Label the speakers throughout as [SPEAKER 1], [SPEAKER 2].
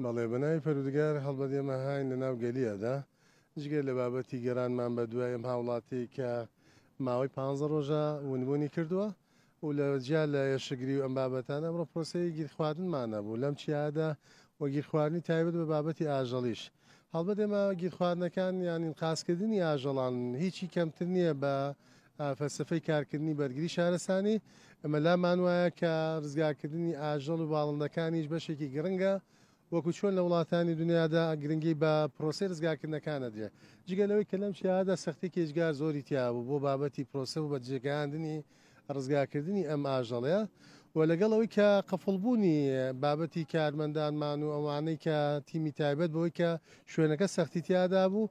[SPEAKER 1] بەڵێ بەناوی پەروردگار هەڵبەت ئێمە هاین لەناو گەلیەدا جگە لە بابەتی گەرانمان بە دوای ئەم هاوڵاتی کە ماوەی پ ڕۆژە ونبوونی کردووە و لە جیا لە یشگری و ئەم بابەتان ئەمڕۆ پرۆسەیە گیرخواردنمانە بوو لەم چیادا و گیرخواردنی تایبەت بە بابەتی ئاژەڵیش هەڵبەت ئێمە گیرخواردنەکان یانین قاسکردنی ئاژەڵان هیچی کەمتر نییە بە فەلسەفەی کارکردنی بەرگری شارستانی، ئەمە لامان وایە کە ڕزگارکردنی ئاژەڵ و باڵندەکانیش بەشێکی گرنگە، وەکو چۆن لە وڵاتانی دونیادا گرنگی بە پرۆسەی ڕزگارکردنەکان ئەدرێ، جگە لەوەی کە لەم چیایەدا سەختیەکی ئێجگار زۆری تیا بوو بۆ بابەتی پرۆسە و بەجێگەیاندنی ڕزگارکردنی ئەم ئاژەڵە و لەگەڵ ئەوەی کە قفڵبوونی بابەتی کارمەندانمان و ئەوانەی کە تیمی تایبەت بەوەی کە شوێنەکە سەختی تیادا بوو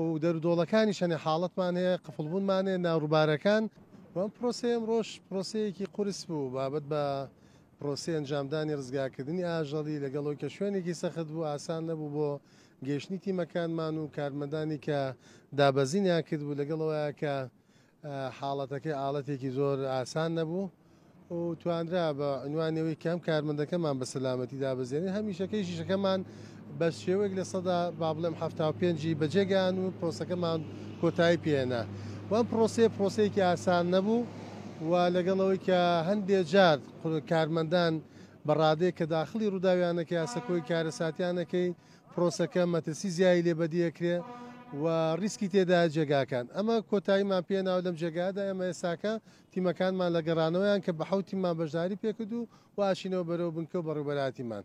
[SPEAKER 1] و دەرو دۆڵەکانیش هەنێ حاڵەتمان هەیە قفڵبوونمان هەیە نا روبارەکان و ئەم پرۆسەی ئەمڕۆش پرۆسەیەکی قورس بوو بابەت بە پرۆسەی ئەنجامدانی رزگارکردنی ئاژەڵی لەگەڵ ئەوەی کە شوێنێکی سەخت بوو ئاسان نەبوو بۆ گەیشتنی تیمەکانمان و کارمەندانی کە دابەزینیان کردبوو لەگەڵ ئەوەیە کە حاڵەتەکەی ئاڵەتێکی زۆر ئاسان نەبوو و توانرا بە عنوانی ئەوەی کە هەم کارمەندەکەمان بە سەلامەتی دابەزێنین هەم ئیشەکەی شیشەکەمان بە شێوەیەک لە سەدا با بڵێم هەفتا و پێنجی بەجێگەیان و پرۆسەکەمان کۆتایی پێێنا وەم پرۆسەیە پرۆسەیەکی ئاسان نەبوو و لەگەڵەوەی کە هەندێ جار کارمەندان بە ڕادەیە کە داخلی ڕووداویانەکە یاسەکۆی کارەساتیانەکەی پرۆسەکە مەترسی زیایی لێ بەدی ئەکرێ و ریسکی تێدایە جێگاکان ئەمە کۆتاییمان پێ ناوە لەم جێگایەدا ئێمە ئێستاکە تیمەکانمان لە گەڕانەوەیان کە بە حەوت تیممان بەشداری پێکرد و و ئەچینەوە بەرەو بنکە و بەڕێوەبەرایەتیمان.